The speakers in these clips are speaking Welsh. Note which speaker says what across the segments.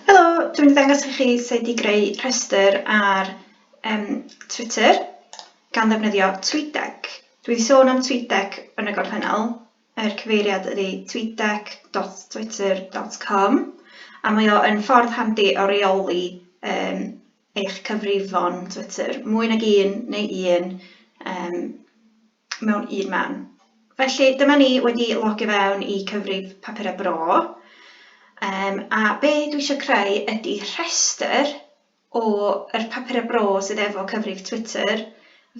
Speaker 1: Helo, dwi'n mynd i ddangos i chi sut i greu rhestr ar um, Twitter gan ddefnyddio TweetDeck. Dwi wedi sôn am TweetDeck yn y gorffennol, yr cyfeiriad ydy tweetdeck.twitter.com a mae o yn ffordd handi o reoli um, eich cyfrifon Twitter, mwy nag un neu un um, mewn un man. Felly dyma ni wedi logio fewn i cyfrif papurau bro um, a be dwi eisiau creu ydy rhestr o yr papurau bro sydd efo cyfrif Twitter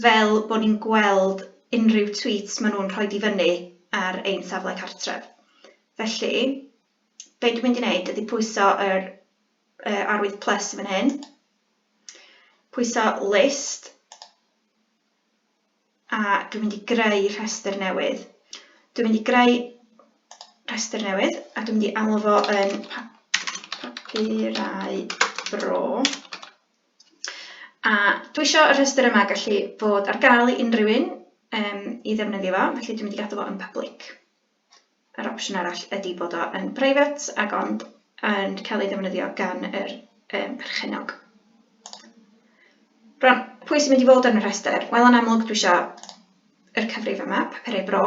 Speaker 1: fel bod ni'n gweld unrhyw tweets maen nhw'n rhoi di fyny ar ein safle cartref. Felly, be dwi'n mynd i wneud ydy pwyso yr uh, arwydd plus yn fan hyn, pwyso list, a dwi'n mynd i greu rhestr newydd. Dwi'n mynd i greu rhestr newydd a dwi'n mynd i alw fo yn papurau bro. A dwi eisiau y rhestr yma gallu bod ar gael i unrhyw un um, i ddefnyddio fo, felly dwi'n mynd i gadw fo yn public. Yr opsiwn arall ydi bod o yn private ac ond yn cael ei ddefnyddio gan yr um, perchennog. Rhan, pwy sy'n mynd i fod yn y rhestr? Wel, yn amlwg dwi eisiau yr cyfrif yma, papurau bro.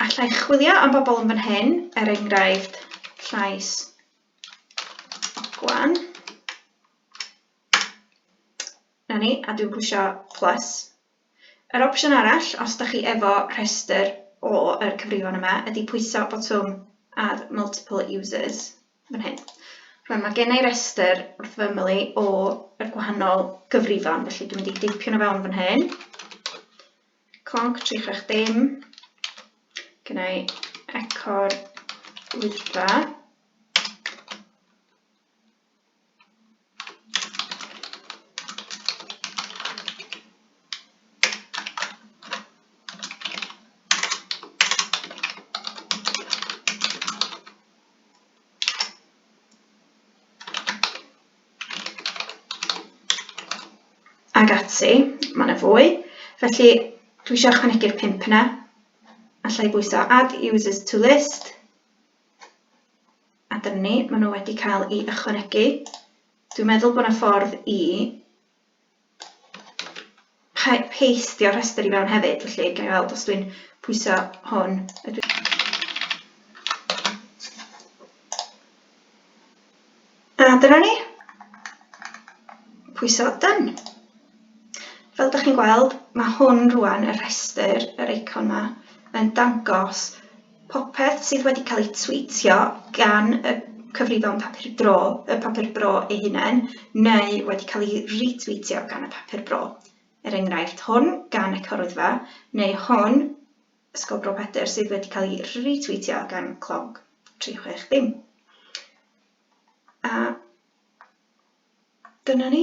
Speaker 1: Alla i chwilio am bobl yn fan hyn, er enghraifft llais gwan. Na ni, a dwi'n pwysio plus. Yr opsiwn arall, os da chi efo rhestr o yr cyfrifon yma, ydy pwyso botwm Add Multiple Users, fan hyn. Rwan, mae gen i restr wrth fy ymyl i o yr gwahanol gyfrifon, felly dwi'n mynd i deipio nhw fewn fan hyn. Clonc 36 dim. Gen i eco'r wyddfa. Ag ati, mae yna fwy. Felly, dwi eisiau ychwanegu'r pimp yna. Alla i bwyso add users to list. A dyna ni, maen nhw wedi cael i ychwanegu. Dwi'n meddwl bod yna ffordd i peistio rhestr i fewn hefyd, felly gael weld os dwi'n pwyso hwn. Ydw A dyna ni. Pwyso done. Fel ydych chi'n gweld, mae hwn rwan, y rhestr, yr eicon yma, yn dangos Popeth sydd wedi cael ei twîtio gan y cyfrifon Papur Bro, y Papur Bro ei hunain, neu wedi cael ei retwîtio gan y Papur Bro. Er enghraifft, hwn gan Ecoryddfa, neu hwn, Ysgol Bro Pedr, sydd wedi cael ei retwîtio gan Clogg 360. A dyna ni.